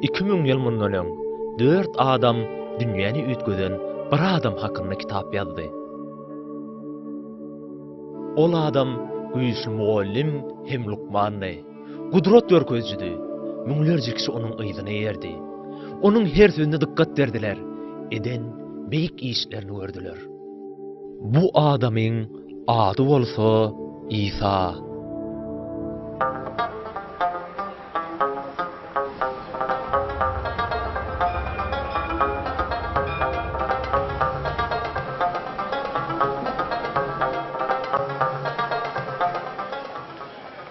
Iki müň ýyl mundan öň dört adam dünýäni üýtgeden bir adam hakynda kitap ýazdy. Ol adam güýçli mugallym hem lukmandy. Gudrat görkezjidi. Müňlerje kişi onuň yzyna erdi. Onuň her sözüne dykgat berdiler, eden beýik işlerini gördüler. Bu adamyň ady bolsa Isa.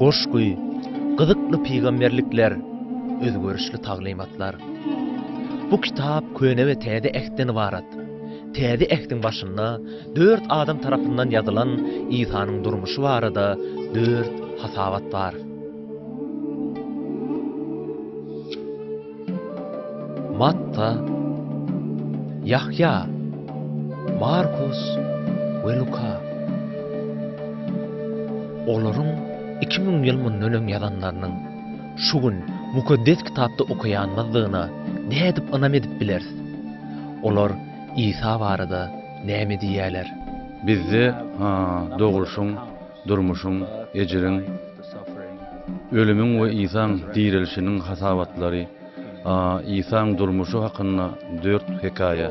Goşgy, gyzykly pygamberlikler, özgerişli taglymatlar. Bu kitap Köne we Täze Ähtden ybarat. Täze Ähtiň başynda dört adam tarapyndan ýazylan Isanyň durmuşy barada dört hasabat bar. Matta, Ýahýa, Markus we Luka. Olaryň iki müň ýyl mundan öň ýazanlarynyň şu gün Mukaddes Kitapda okaýanymyzdygyna nädip ynam edip bileris? Olar Isa barada näme diýýärler? Bizde dogulşyň Durmuşyň, ejiriň, ölümiň we Isaň direlişiniň hasabatlary A. Isaň durmuşy hakynda dört hekaýa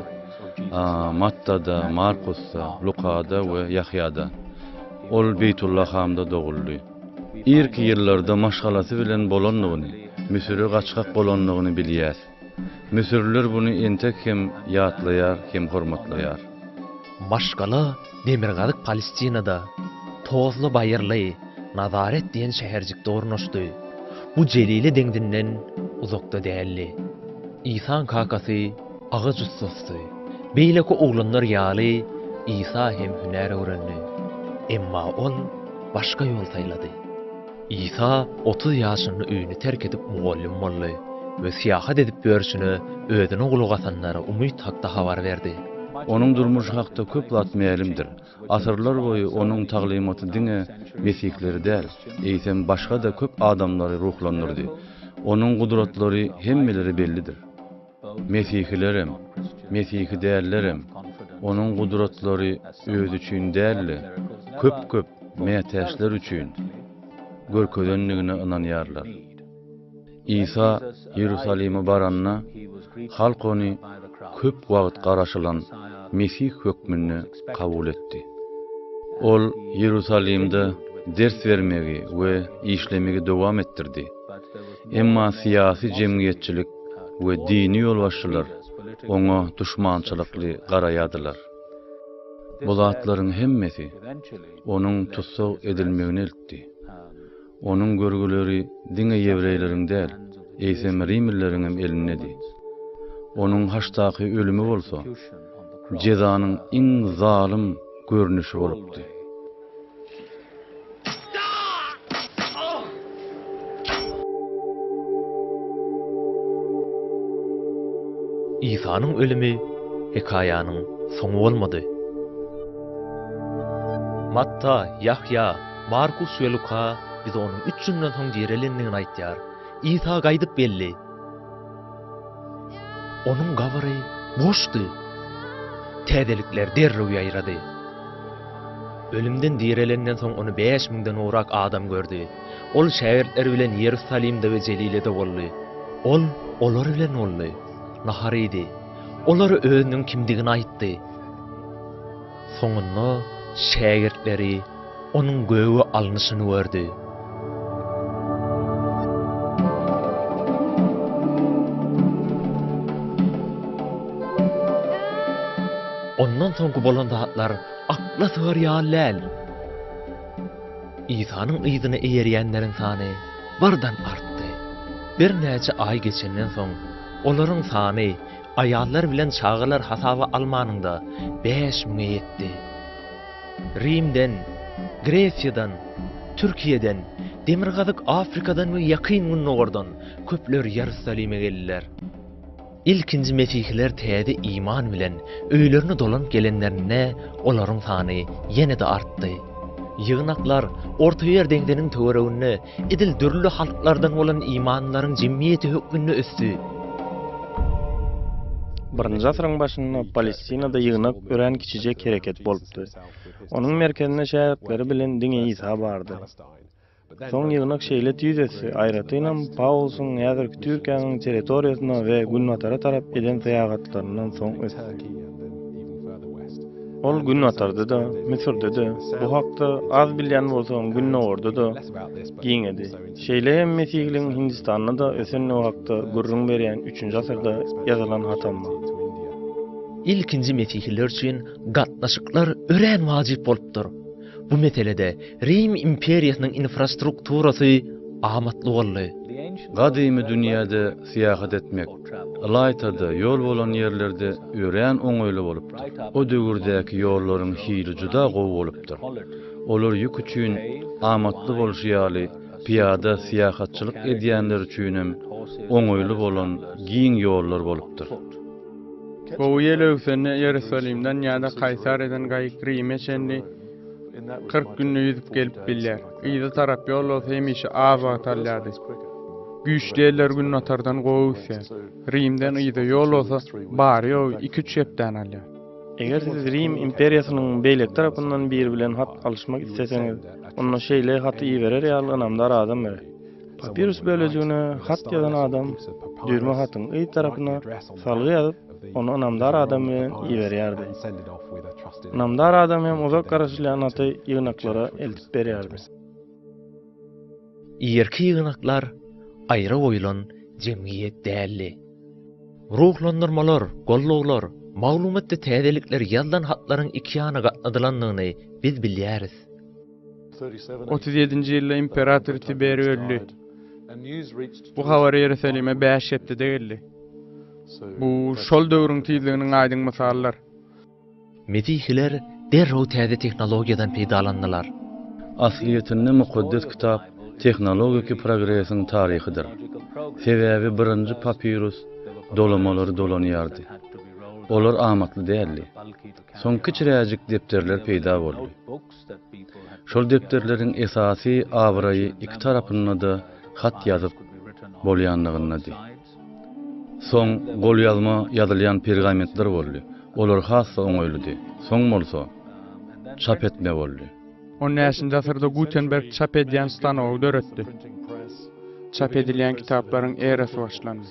A. Mattada, Markusda, Lukada we Ýahýada. Ol Beýtullahamda doguldy. Irki ýyllarda maşgalasy bilen bolandygyny, Müsüre gaçgak bolandygyny bilýäs. Müsürliler buny entek hem ýatlaýar hem hormatlaýar. Maşgala demirgazyk Palestinada, tozly baýyrly Nazaret diýen şäherjikde ornaşdy. Bu Jelile deňzinden uzakda däldi. Isaň kakasy agaç ussasdy. Beýleki oglanlar ýaly Isa hem hünär öwrendi. Emma ol başga ýol saýlady. Isa otuz ýaşynda öýüni terk edip mugallym boldy we syýahat edip ýörşüne özüne gulak asanlara umyt hakda habar berdi. Onuň durmuşy hakda köp zat mälimdir. Asyrlar boýy onuň taglymaty diňe mesihleri däl, eýsem başga-da köp adamlary ruhlandyrdy. Onuň gudratlary hemmelere bellidir. Mesihilerem, mesihi dällerem Onuň gudratlary Özi üçin däl-de, köp-köp mätäçler üçin görkezendigine ynanýarlar. Isa Iýerusalime baranda, halk Ony köp wagt garaşylan Mesih hökmünde kabul etdi. Ol Iýerusalimde ders bermegi we işlemegi dowam etdirdi. Emma syýasy-jemgyýetçilik we dini ýolbaşçylar oňa duşmançylykly garaýardylar. Bu zatlaryň hemmesi onuň tussag edilmegine eltdi. Onuň görgüleri diňe ýewreýleriň däl, eýsem rimlileriňem elindedi. Onuň haçdaky ölümi bolsa, jezanyň iň zalym görnüşi bolupdy. Isanyň ölümi hekaýanyň soňy bolmady. Matta, Ýahýa, Markus we Luka bize onuň üç günden soň direlendigini aýdýar. Isa gaýdyp geldi. Onuň gabry boşdy. Täzelikler derrew ýaýrady. Ölümden direlenden soň ony bäş müňden gowrak adam gördi. Ol şägirtleri bilen Iýerusalimde we Jelilede boldy. Ol olar bilen boldy. Nahar iýdi. Olara özüniň kimdigini aýtdy. Soňunda şägirtleri onuň göge alnyşyny gördi. Ondan soňky bolan zatlar akla sygar ýaly däl. Isanyň yzyna eýerýänleriň sany bardan artdy. Birnäçe aý geçenden soň, olaryň sany Aýallar bilen çagalar hasaba almanyňda bäş müňe ýetdi. Rimden, Gresiýadan, Türkiýeden, Demirgazyk Afrikadan we Ýakyn Gündogardan köpler Ýerusalime geldiler. Ilkinji mesihiler täze iman bilen öýlerine dolanyp gelenlerinde olaryň sany ýene-de artdy. Ýygnaklar Ortaýer deňziniň töwereginde edil dürli halklardan bolan imanlaryň jemgyýeti hökmünde ösdi. Birinji asyryň başynda Palestinada ýygnak örän kiçijek hereket bolupdy. Onuň merkezinde şägirtleri bilen diňe Isa bardy. Soň ýygnak şeýle tüýs ösdi, aýratynam, Pawlusyň häzirki Türkiýäniň territoriýasyna we günbatara tarap eden syýahatlaryndan soň ösdi. Ol Günbatarda-da, Müsürde-de, bu hakda az bilýän bolsam, Gündogarda-da giňedi. Şeýle hem Mesihligiň Hindistanda-da ösendigi hakda gürrüň berýän üçünji asyrda ýazylan hatam bar. Ilkinji mesihliler üçin gatnaşyklar örän wajyp bolupdyr. Bu meselede Rim imperiýasynyň infrastrukturasy amatly boldy. Gadymy dünýäde Syýahat etmek, ylaýta-da, ýol bolan ýerlerde örän oňaýly bolupdyr. O döwürdäki ýollaryň hili juda gowy bolupdyr. Olar ýük üçin amatly bolşy ýaly, pyýada syýahatçylyk edýänler üçinem oňaýly bolan giň ýollar bolupdyr. Gowy ýel öwsende Iýerusalimden ýa-da Kaýsariýadan gaýyk Rime çenli, 40 günde ýüzüp gelip bilýär. Yza tarap ýol bolsa hemişe az wagt alýardy. Güýçli ýeller günbatardan gowy üsýär. Rimden yza ýol bolsa bary ýogy iki-üç hepdäni alýar. Eger siz Rim imperiýasynyň beýleki tarapyndan biri bilen hat alyşmak isleseňiz, onda şeýle haty iberer ýaly ynamdar adam gerek. Papirus bölejigine hat ýazan adam düýrme hatyň yz tarapyna salgy ýazyp, ony ynamdar adam bilen iberýärdi. Ynamdar adam hem uzak garaşylýan haty ýygnaklara eltip berýärdi. Irki ýygnaklar aýra goýlan jemgyýet däldi. Ruhlandyrmalar, gollawlar, maglumatda täzelikler ýazylan hatlaryň ikiýana gatnadylandygyny biz bilýäris. Otuz ýedinji ýylda imperator Tiberi öldi. Bu habar Iýerusalime bäş hepdede geldi. Bu şol döwrüň tizliginiň aýdyň mysalydyr. Mesihiler derrew täze tehnologiýadan peýdalandylar. Aslyýetinde Mukaddes Kitap tehnologiki progresiň taryhydyr. Sebäbi birinji papirus dolamalary dolanýardy. Olar amatly däldi. Soň kiçiräjik depderler peýda boldy. Şol depderleriň esasy abraýy iki tarapynda-da hat ýazyp bolýanlygyndady. Soň golýazma ýazylýan pergamentler boldy. Olar has-da oňaýlydy. Soň bolsa, çap etme boldy. On bäşinji asyrda Gutenberg çap edýän stanogy döretdi. Çap edilýän kitaplaryň erasy başlandy.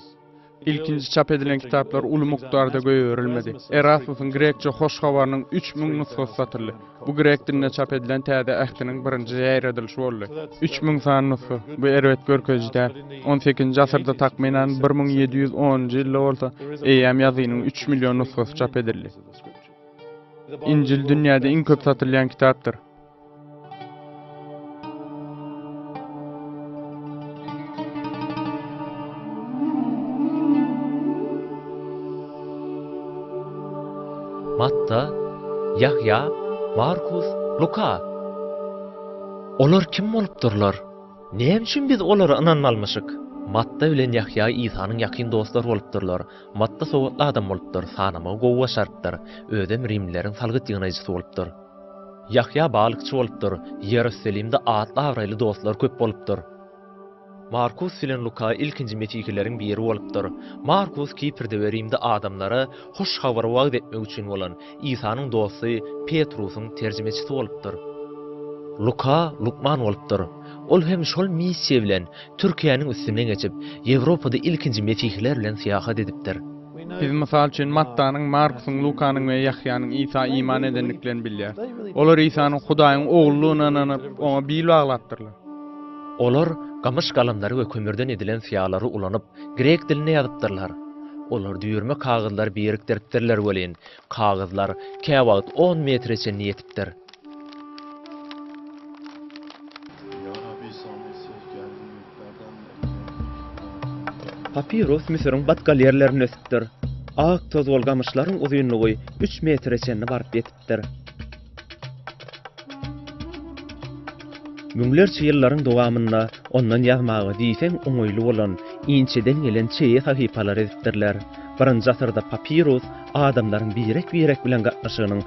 Ilkinji çap edilen kitaplar uly mukdarda goýberilmedi. Erasmusyň grekçe Hoş Habarynyň üç müň nusgasy satyldy. Bu grek dilinde çap edilen Täze Ähtiň birinji ýaýradylyşy boldy. Üç müň sany nusga, bu erbet görkeziji däl. On sekizinji asyrda, takmynan bir müň ýedi ýüz onunjy ýylda bolsa, eýýäm ýazynyň üç million nusgasy çap edildi. Injil dünýäde iň köp satylýan kitapdyr. Matta, Ýahýa, Markus, Luka. Olar kim bolupdyrlar? Näme üçin biz olara ynanmalymyşyk? Matta bilen Ýahýa Isanyň ýakyn dostlary bolupdyrlar. Matta sowatly adam bolupdyr, sanamagy gowy başarypdyr, özem rimlileriň salgyt ýygnajysy bolupdyr. Ýahýa balykçy bolupdyr. Iýerusalimde atly-abraýly dostlar köp bolupdyr. Markus bilen Luka ilkinji mesihileriň biri bolupdyr. Markus Kiprde we Rimde adamlara Hoş Habary wagyz etmek üçin bolan, Isanyň dosty Petrusyň terjimeçisi bolupdyr. Luka lukman bolupdyr. Ol hem şol missiýa bilen Türkiýäniň üstünden geçip, Ýewropada ilkinji mesihiler bilen syýahat edipdir. Biz, mysal üçin, Mattanyň, Markusyň, Lukanyň we Ýahýanyň Isa iman edendiklerini bilýäris. Olar Isanyň Hudaýyň Ogludygyna ynanyp, oňa bil baglapdyrlar. Olar gamyş galamlary we kömürden edilen syýalary ulanyp, grek dilinde ýazypdyrlar. Olar düýrme kagyzlary birikdiripdirler welin, kagyzlar käwagt on metre çenli ýetipdir. Papiros Müsüriň batgal ýerlerinde ösüpdir. Ak tozgul gamyşlaryň uzynlygy üç metre çenli baryp ýetipdir. Müňlerçe ýyllaryň dowamynda ondan ýazmaga diýseň oňaýly bolan inçeden gelen çeýe sahypalar edipdirler. Birinji asyrda papirus adamlaryň birek-birek bilen gatnaşygynyň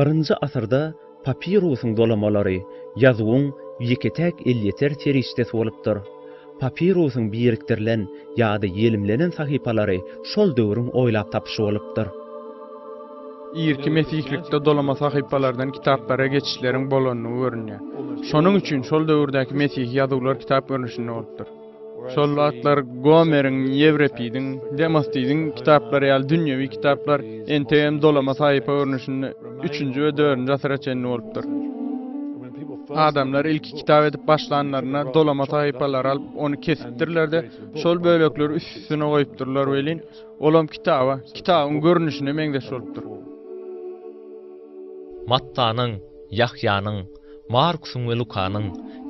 Birinji asyrda papirusyň dolamalary ýazuwyň ýeke-täk elýeter serişdesi bolupdyr. Papirusyň birikdirilen ýa-da ýelimlenen sahypalary şol döwrüň oýlap tapyşy bolupdyr. Irki mesihlikde dolama sahypalardan kitaplara geçişleriň bolandygy görünýär. Şonuň üçin şol döwürdäki mesihi ýazuwlar kitap görnüşinde bolupdyr. Şol wagtlar Gomeriň, Ýewripidiň, Demostidiň kitaplary ýaly dünýewi kitaplar entegem dolama sahypa görnüşinde üçünji we dördünji asyra çenli bolupdyr. Adamlar ilki kitap edip başlanlarynda dolama sahypalary alyp, ony kesipdirler-de, şol bölekleri üst-üstüne goýupdyrlar welin, olam kitaba, kitabyň görnüşine meňzeş bolupdyr. Mattanyň, Ýahýanyň, Markusyň we Lukanyň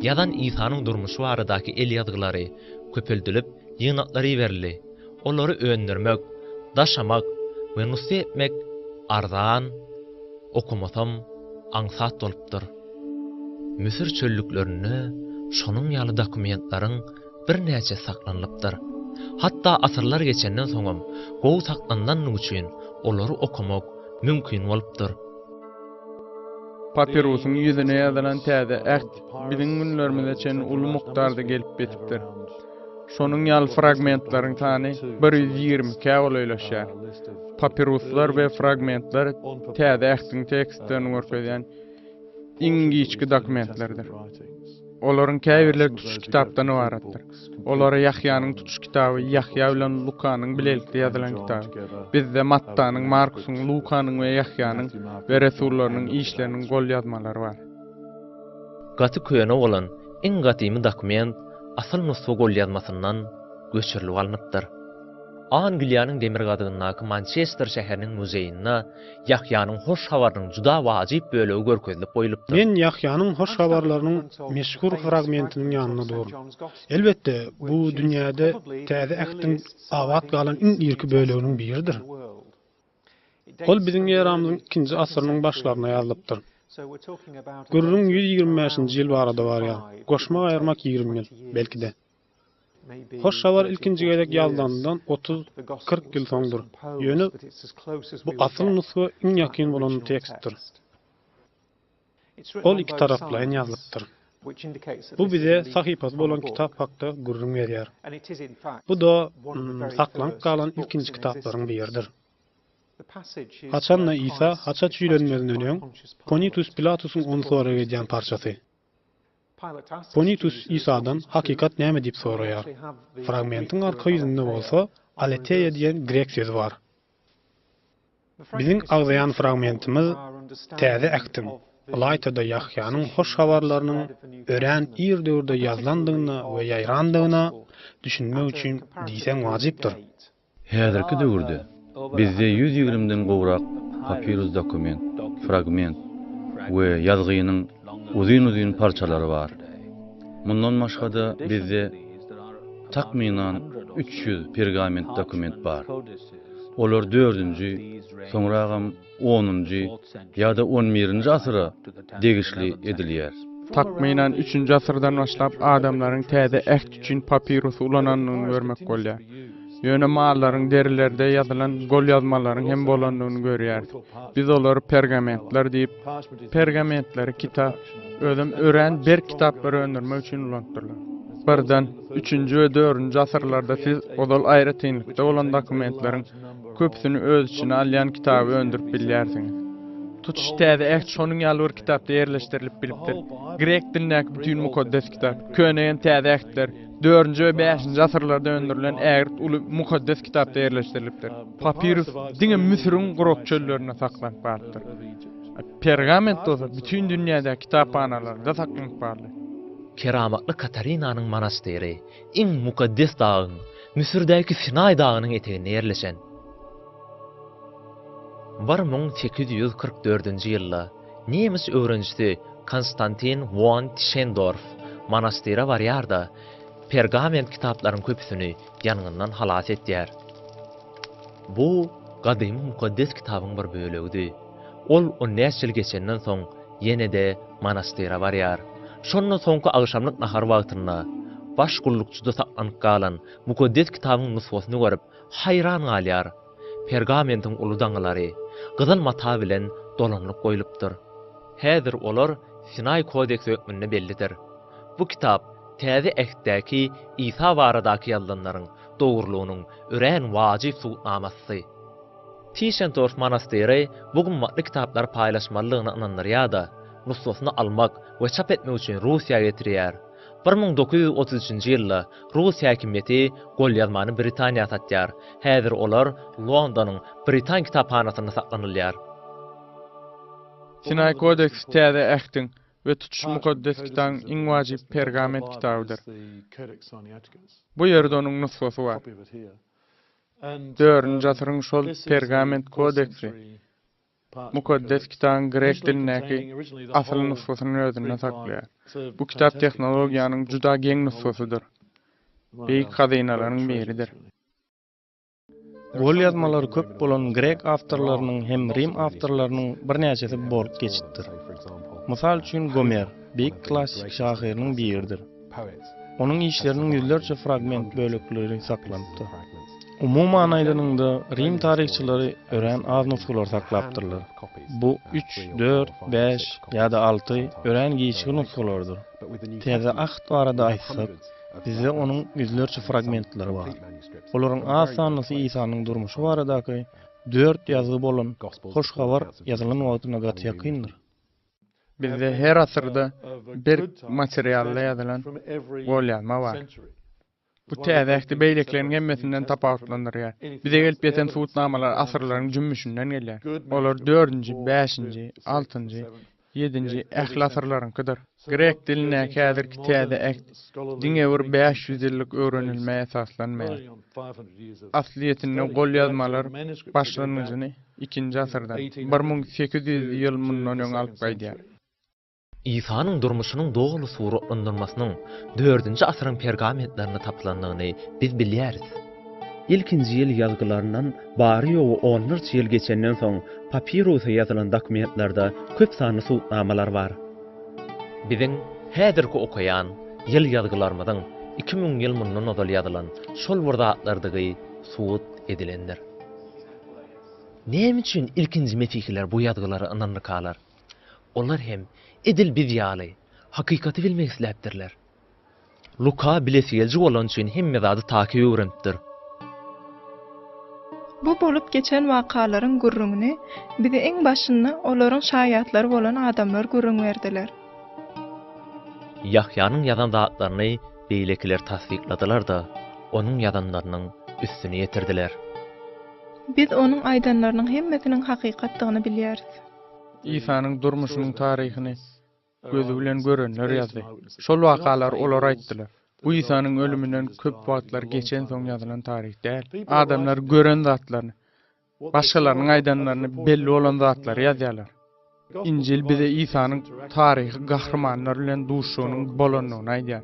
ýazan Isanyň durmuşy baradaky elýazgylary köpeldilip, ýygnaklar iberildi. olary öndürmek, daşamak we nusga etmek arzan, okamasam aňsat bolupdyr. Müsür çöllüklerinde şonuň ýaly dokumentlaryň birnäçesi saklanylypdyr. Hatda asyrlar geçenden soňam gowy saklanlandygy üçin olary okamak mümkin bolupdyr. Papirusyň ýüzüne ýazylan Täze Äht biziň günlerimize çenli uly mukdarda gelip ýetipdir. Şonuň ýaly fragmentlaryň sany bir ýüz ýigrimi ikä golaýlaşýar. Papiruslar we fragmentler Täze Ähtiň tekstlerini görkezýän iň giçki dokumentlerdir. Olaryň käbirleri tutuş kitapdan ybaratdyr. Olara Ýahýanyň tutuş kitaby, Ýahýa bilen Lukanyň bilelikde ýazylan kitaby, bizde Mattanyň, Markusyň, Lukanyň we Ýahýanyň we resullarynyň işleriniň golýazmalary bar. Gaty köne bolan iň gadymy dokument asyl nusga golýazmasyndan göçürilip alnypdyr. Angliýanyň demirgazygyndaky Mançester şäheriniň muzeýinde Ýahýanyň hoş habarynyň juda wajyp bölegi görkezilip goýlupdyr. Men Ýahýanyň hoş habarlarynyň meşhur fragmentiniň ýanynda durun. Elbetde, bu dünýäde Täze Ähtiň abat galan iň irki böleginiň biridir. Ol biziň eramyzyň ikinji asyrynyň başlaryna ýazylypdyr. Gürrüň ýüz ýigrimi bäşinji ýyl barada barýar, goşmak aýyrmak ýigrimi ýyl, belki-de. Hoş habar ilkinji gezek ýazlanyndan otuz, kyrk ýyl soňdur, ýöne bu asyl nusga iň ýakyn bolan tekstdir. Ol ikitaraplaýyn ýazlypdyr. Bu bize sahypasy bolan kitap hakda gürrüň berýär. Bu-da saklanyp galan ilkinji kitaplaryň biridir. Haçan-da Isa haça çüýlenmezinden öň, Ponitus Pilatusyň ony sorag edýän parçasy. Ponitus Isadan Hakykat näme? diýip soraýar. Fragmentiň arka ýüzünde bolsa Aleteia diýen grek sözi bar. Biziň agzaýan fragmentimiz Täze Ähtiň, ylaýta-da Ýahýanyň hoş habarlarynyň örän ir döwürde ýazylandygyna we ýaýrandygyna düşünmek üçin diýseň wajypdyr. Häzirki döwürde bizde ýüz ýigrimiden gowrak papirus dokument, fragment we ýazgynyň, uzyn-uzyn parçalary bar. Mundan başga-da bizde takmynan üç ýüz pergament dokument bar. Olar dördünji, soňragam onunjy ýa-da on birinji asyra degişli edilýär. Takmynan üçünji asyrdan başlap adamlaryň täze äht üçin papirusy ulanandygyny görmek bolýar. Ýöne mallaryň derilerde ýazylan golýazmalaryň hem bolandygyny görýäris. Biz olary pergamentler diýip, pergamentleri kitap, özem örän berk kitaplary öndürmek üçin ulanypdyrlar. Birden, üçünji we dördünji asyrlarda siz ozal aýratynlykda bolan dokumentleriň köpüsini öz içine alýan kitaby öndürip bilýärsiňiz. Tutuş täze Äht şonuň ýaly bir kitapda ýerleşdirilip bilipdir. Grek dilindäki bütin Mukaddes Kitap, Köne hem Täze Ähtler, Dördünji we bäşinji asyrlarda öndürilen ägirt uly Mukaddes Kitapda ýerleşdirilipdir. Papirus diňe Müsüriň gurak çöllerinde saklanyp galypdyr. Pergament bolsa bütin dünýädäki kitaphanalarda saklanyp barly. Keramatly Katarinanyň monastyry iň mukaddes dagyň, Müsürdäki Sinaý dagynyň eteginde ýerleşen. Bir müň sekiz ýüz kyrk dördünji ýylda Nemes öwrenijisi Konstantin won Tişendorf monastyra barýar-da, pergament kitaplaryň köpüsini ýangyndan halas etýär. Bu gadymy mukaddes kitabyň bir bölegidi. Ol on bäş ýyl geçenden soň ýene-de monastyra barýar. Şonda soňky agşamlyk nahar wagtynda, baş gullukçyda saklanyp galan mukaddes kitabyň nusgasyny görüp, haýran galýar. Pergamentiň uly daňylary gyzyl mata bilen dolanylyp goýlupdyr. Häzir olar Sinaý kodeksi hökmünde bellidir. Bu kitap Täze Ähtdäki Isa baradaky ýazylanlaryň dogrulygynyň örän wajyp subutnamasy. Tischendorf monastyry bu gymmatly kitaplary paýlaşmalydygyna ynandyrýar-da, nusgasyny almak we çap etmek üçin Russiýa getirýär. Bir müň dokuz ýüz otuz üçünji ýylda rus häkimiýeti golýazmany Britaniýa satýar, häzir olar Londonyň Britan kitaphanasynda saklanylýar. Sinaý kodeksi Täze Ähtiň we Tutuş Mukaddes Kitabyň iň wajyp pergament kitabydyr. Bu ýerde onuň nusgasy bar. Dördünji asyryň şol pergament kodeksi Mukaddes Kitabyň grek dilindäki asyl nusgasyny özünde saklaýar. Bu kitap tehnologiýanyň juda geň nusgasydyr, beýik hazynalaryň biridir. Golýazmalary köp bolan grek awtorlarynyň hem rim awtorlarynyň birnäçesi bolup geçipdir. Mysal üçin Gomer, beýik klassik şahyrynyň biridir. Onuň işleriniň ýüzlerçe fragment bölekleri saklanypdyr. Umuman aýdanyňda, Rim taryhçylary örän az nusgalary saklapdyrlar. Bu üç, dört, bäş ýa-da alty örän giçki nusgalarydyr. Täze Ahd barada aýtsak, bizde onuň ýüzlerçe fragmentleri bar. Olaryň az sanlysy Isanyň durmuşy baradaky dört ýazgy bolan Hoş Habar ýazylan wagtyna gaty ýakyndyr. Bizde her asyrda berk materialda ýazylan golýazma bar. Bu täze ähti beýlekileriň hemmesinden tapawutlandyrýar. Bize gelip ýeten subutnamalar asyrlaryň jümmüşinden gelýär. Olar dördünji, bäşinji, altynjy, ýedinji ähli asyrlaryňkydyr. Grek dilindäki häzirki täze äht diňe bir bäş ýüz ýyllyk öwrenilmä esaslanmaýar. Aslyýetinde golýazmalar başlangyjyny Ikinji asyrdan, bir müň sekiz ýüz ýyl mundan öň alyp gaýdýar. Isanyň durmuşynyň doly suratlandyrmasynyň dördünji asyryň pergamentlerinde tapylandygyny biz bilýäris. Ilkinji ýyl ýazgylaryndan bary-ýogy onlarça ýyl geçenden soň papirusa ýazylan dokumentlerde köp sanly subutnamalar bar. Biziň häzirki okaýan ýyl ýazgylarymyzyň iki müň ýyl mundan ozal ýazylan şol bir zatlardygy subut edilendir. Näme üçin ilkinji mesihiler bu ýazgylary ynandykalar? Olar hem edil biz ýaly, hakykaty bilmek isläpdirler. Luka bilesi gelji bolany üçin hemme zady takyk öwrenipdir. Bu bolup geçen wakalaryň gürrüňini bize iň başynda olaryň şaýatlary bolan adamlar gürrüň berdiler. Ýahýanyň ýazan zatlaryny Beýlekiler tassykladylar-da, onuň ýazanlarynyň üstüni ýetirdiler. Biz onuň aýdanlarynyň hemmesiniň hakykatdygyny bilýäris. Isanyň durmuşynyň taryhyny gözi bilen görenler ýazdy. Şol wakalar olar aýtdylar. Bu Isanyň ölüminden köp wagtlar geçensoň ýazylan taryh däl. Adamlar gören zatlaryny, Başgalarynyň aýdanlaryny belli bolan zatlary ýazýarlar. Injil bize Isanyň taryhy gahrymanlar bilen duşugynyň bolandygyny aýdýar.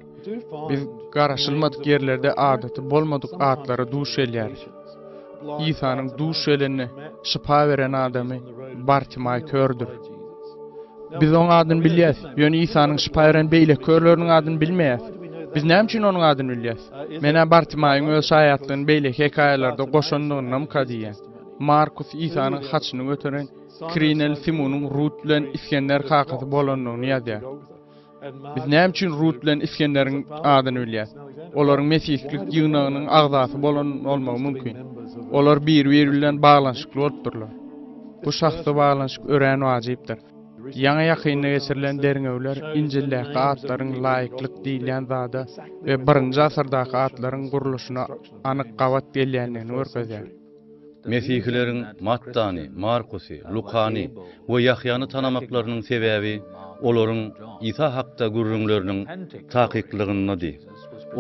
Biz garaşylmadyk ýerlerde adaty bolmadyk atlara duş gelýäris. Isanyň duş gelende şypa beren adamy Bartimaý kördür. Biz oň adyny bilýäs, ýöne Isanyň şypa beren beýleki körleriniň adyny bilmeýäs. Biz näme üçin onuň adyny bilýäs? Men-ä Bartimaýyň öz şaýatlygyny beýleki hekaýalarda goşandygyndamyka diýýän. Markus Isanyň haçyny göteren kirineli Simunyň Rut bilen Isgender kakasy bolandygyny ýazýar. Biz näme üçin Rut bilen Isgenderiň adyny bilýäs? Olaryň mesihlik ýygnagynyň agzasy bolan bolmagy mümkin. Olar bir-biri bilen baglanyşykly bolupdyrlar. Bu şahsy baglanyşyk örän wajypdyr. Ýaňy-ýakynda geçirilen derňewler Injildäki atlaryň laýyklyk diýilýän zada we birinji asyrdaky atlaryň gurluşyna anyk gabat gelýändigini görkezýär. Mesihileriň Mattany, Markusy, Lukany we Ýahýany tanamaklarynyň sebäbi olaryň Isa hakda gürrüňleriniň takyklygyndady.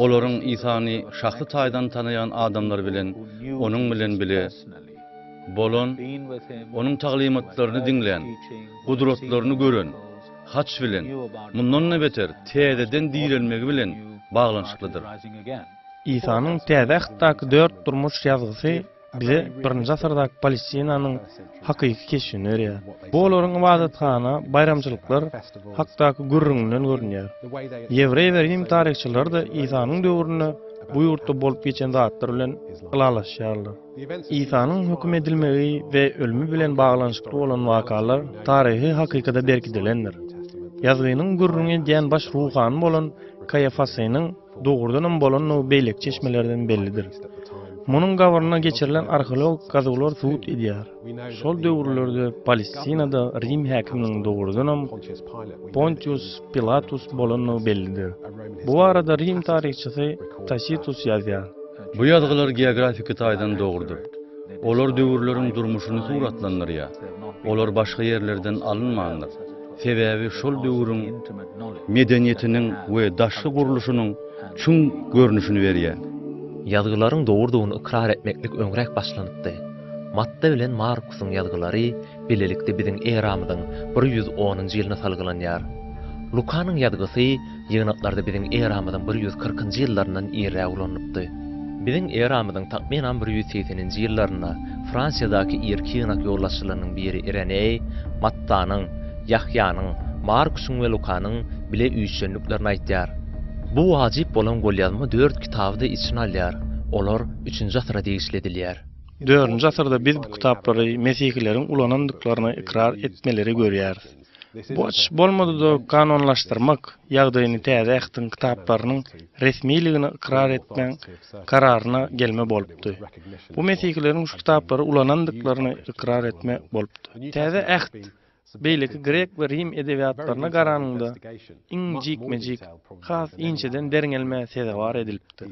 Olaryň Isany şahsy taýdan tanaýan adamlar bilen onuň bilen bile bolan, Onuň taglymatlaryny diňlän, gudratlaryny gören, haç bilen, mundan-da beter, täzeden direlmegi bilen baglanyşyklydyr. Isanyň Täze Ähtdaky dört durmuş ýazgysy bize birinji asyrdaky Palestinanyň hakyky keşbini berýär. Bu olaryň ybadathana, baýramçylyklar hakdaky gürrüňinden görünýär. Ýewreý we rim taryhçylary-da Isanyň döwründe bu ýurtda bolup geçen zatlar bilen ylalaşýarlar. Isanyň höküm edilmegi we ölümi bilen baglanyşykly bolan wakalar taryhy hakykada berkidilendir. Ýazgynyň gürrüňi edýän baş ruhany bolan Kaýafasynyň dogrudanam bolandygy beýleki çeşmelerden bellidir. Munuň gabryna geçirilen arheologik gazuwlar subut edýär. Şol döwürlerde Palestinada Rim häkiminiň dogrudanam Pontius Pilatus bolandygy bellidir. Bu barada Rim taryhçysy Tasitus ýazýar. Bu ýazgylar geografiki taýdan dogrudyr. Olar döwürleriň durmuşyny suratlandyrýar. Olar başga ýerlerden alynmandyr. Sebäbi şol döwrüň medeniýetiniň we daşky gurluşynyň çuň görnüşini berýär. Ýazgylaryň dogrudygyny ykrar etmeklik öňräk başlanypdy. Matta bilen Markusyň ýazgylary bilelikde biziň eramyzyň bir ýüz onunjy ýylyna salgylanýar. Lukanyň ýazgysy ýygnaklarda biziň eramyzyň bir ýüz kyrkynjy ýyllaryndan irräk ulanylypdy. Biziň eramyzyň takmynan bir ýüz segseninji ýyllarynda Fransiýadaky irki ýygnak ýolbaşçylarynyň biri Ireneý, Mattanyň, Ýahýanyň, Markusyň we Lukanyň bile üýşendiklerini aýtýar. Bu wajyp bolan golýazma dört kitaby-da içine alýar, olar üçünji asyra degişli edilýär. Dördünji asyrda biz bu kitaplary mesihileriň ulanandyklaryny ykrar etmeleri görýäris. Bu açyş bolmady-da kanunlaşdyrmak ýagdaýyny Täze Ähtiň kitaplarynyň resmiligini ykrar etmeň kararyna gelme bolupdy. Bu mesihileriň şu kitaplary ulanandyklaryny ykrar etme bolupdy. Täze Äht Beýleki grek we rim edebiýatlaryna garanyňda, iň jikme-jik, has inçeden derňelmä sezewar edilipdir.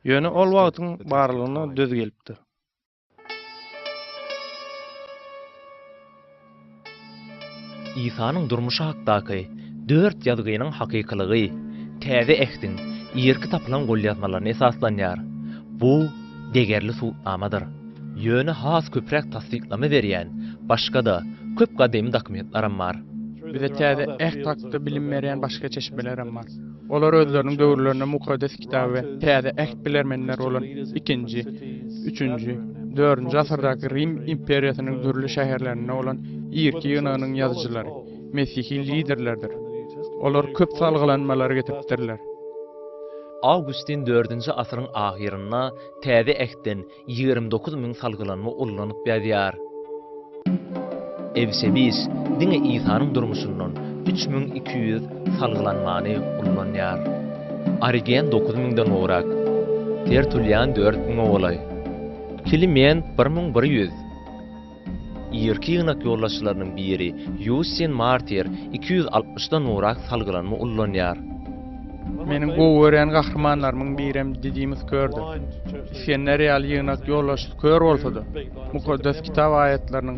Ýöne ol wagtyň barlygyna döz gelipdir. Isanyň durmuşy hakdaky dört ýazgynyň hakykylygy Täze Ähtiň irki tapylan golýazmalaryna esaslanýar. Bu degerli subutnamadyr. Ýöne has köpräk tassyklama berýän başga-da köp gadymy dokumentlaram bar. Bize täze Äht hakda bilim berýän başga çeşmelerem bar. Olar özleriniň döwürlerinde Mukaddes Kitaby we Täze Äht bilermenleri bolan ikinji, üçünji, dördünji asyrdaky Rim imperiýasynyň dürli şäherlerinde bolan irki ýygnagynyň ýazyjylary, mesihi liderlerdir. Olar köp salgylanmalary getiripdirler. Awgustin dördünji asyryň ahyrynda Täze Ähtden ýigrimi dokuz müň salgylanma ullanyp ýazýar. Ewsebiýs diňe Isanyň durmuşyndan üç müň iki ýüz salgylanmany ullanýar. Origen dokuz müňden gowrak, Tertulian dört müňe golaý, Kliment bir müň bir ýüz. Irki ýygnak ýolbaşçylarynyň biri Ýussien Martier iki ýüz altmyş dan nurak salgylanma ullanýar. Meniň gowy görýän gahrymanlarymyň birem Didimus kördür. Isgender ýaly ýygnak ýolbaşçysy kör bolsa-da, Mukaddes Kitap aýatlarynyň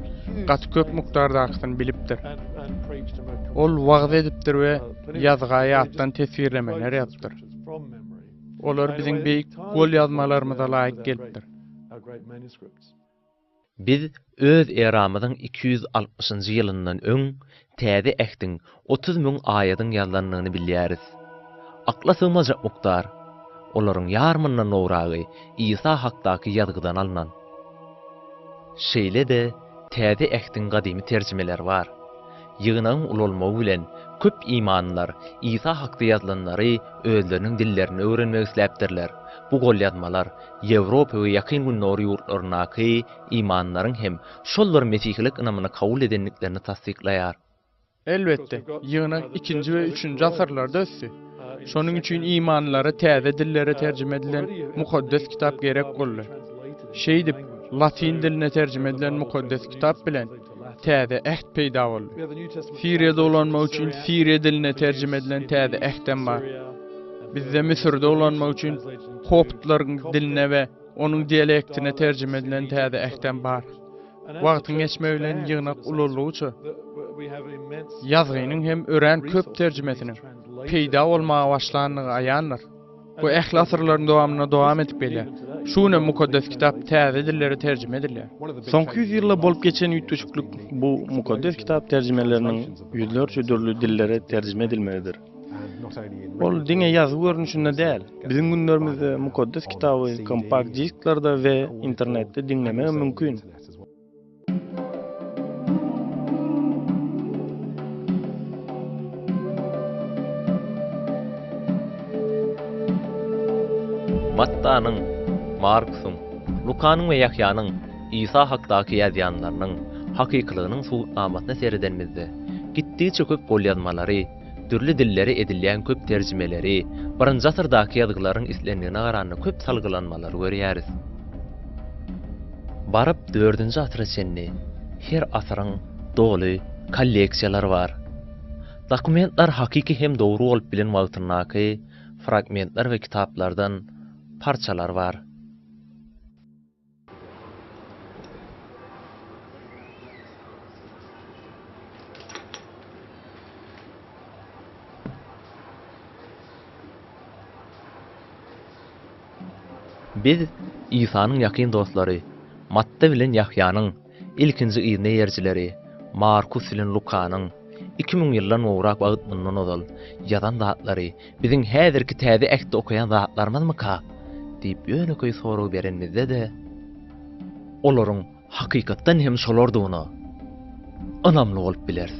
gaty köp mukdardakysyny bilipdir. Ol wagyz edipdir we ýazga ýatdan teswirlemeler ýazypdyr. Olar biziň beýik golýazmalarymyza laýyk gelipdir. Biz Öz eramyzyň iki ýüz altmyşynjy ýylyndan öň Täze Ähtiň otuz müň aýadyň ýazlandygyny bilýäris. Akla sygmajak mukdar! Olaryň ýarmyndan gowragy Isa hakdaky ýazgydan alnan. Şeýle-de Täze Ähtiň gadymy terjimeleri bar. Ýygnagyň ulalmagy bilen köp imanlylar Isa hakda ýazylanlary özleriniň dillerinde öwrenmek isläpdirler. Bu golýazmalar Ýewropa we Ýakyn Gündogar ýurtlaryndaky imanlaryň hem şol bir mesihilik ynamyny kabul edendiklerini tassyklaýar. Elbetde, ýygnak ikinji we üçünji asyrlarda ösdi. Şonuň üçin imanlara täze dillere terjime edilen Mukaddes Kitap gerek boldy. Şeýdip, latyn diline terjime edilen Mukaddes Kitap bilen Täze Äht peýda boldy. Siriýa dolanmak üçin Siriýa diline terjime edilen Täze Äht hem bar. Bizde Müsür dolanmak üçin koptlaryň diline we onuň dialektine terjime edilen Täze Äht hem bar. Wagtyň geçmegi bilen ýygnak ulaldygyça, ýazgynyň hem örän köp terjimesiniň peýda bolmaga başlandygy aýandyr. Bu ähli asyrlaryň dowamynda dowam edip gelýär. Şu günem Mukaddes Kitap täze dillere terjime edilýär. Soňky ýüz ýylda bolup geçen üýtgeşiklik bu Mukaddes Kitap terjimeleriniň ýüzlerçe dürli dillere terjime edilmegidir. Ol diňe ýazgy görnüşinde däl, biziň günlerimizde Mukaddes Kitaby kompakt-disklerde we internetde diňlemegem mümkin. Mattanyň, Markusyň, Lukanyň we Ýahýanyň Isa hakdaky ýazýanlarynyň hakykylygynyň subutnamasyna seredenimizde, gitdigiçe köp golýazmalary, Dürli dillere edilýän köp terjimeleri, birinji asyrdaky ýazgylaryň islendigine garanda köp salgylanmalary görýäris. Baryp dördünji asyra çenli her asyryň doly kolleksiýalary bar. Dokumentler hakyky hem dogry bolup bilen wagtyndaky fragmentler we kitaplardan parçalar bar. Biz Isanyň ýakyn dostlary, Matty bilen Ýahýanyň Ilkinji yzneýerjileri Markus bilen Lukanyň iki müň ýyldan gowrak wagt mundan ozal ýazan zatlary biziň häzirki Täze Ähtde okaýan zatlarymyzmyka? diýip ýönekeý sorag berenimizde-de, olaryň hakykatdan hem şolardygyna ynamly bolup bileris.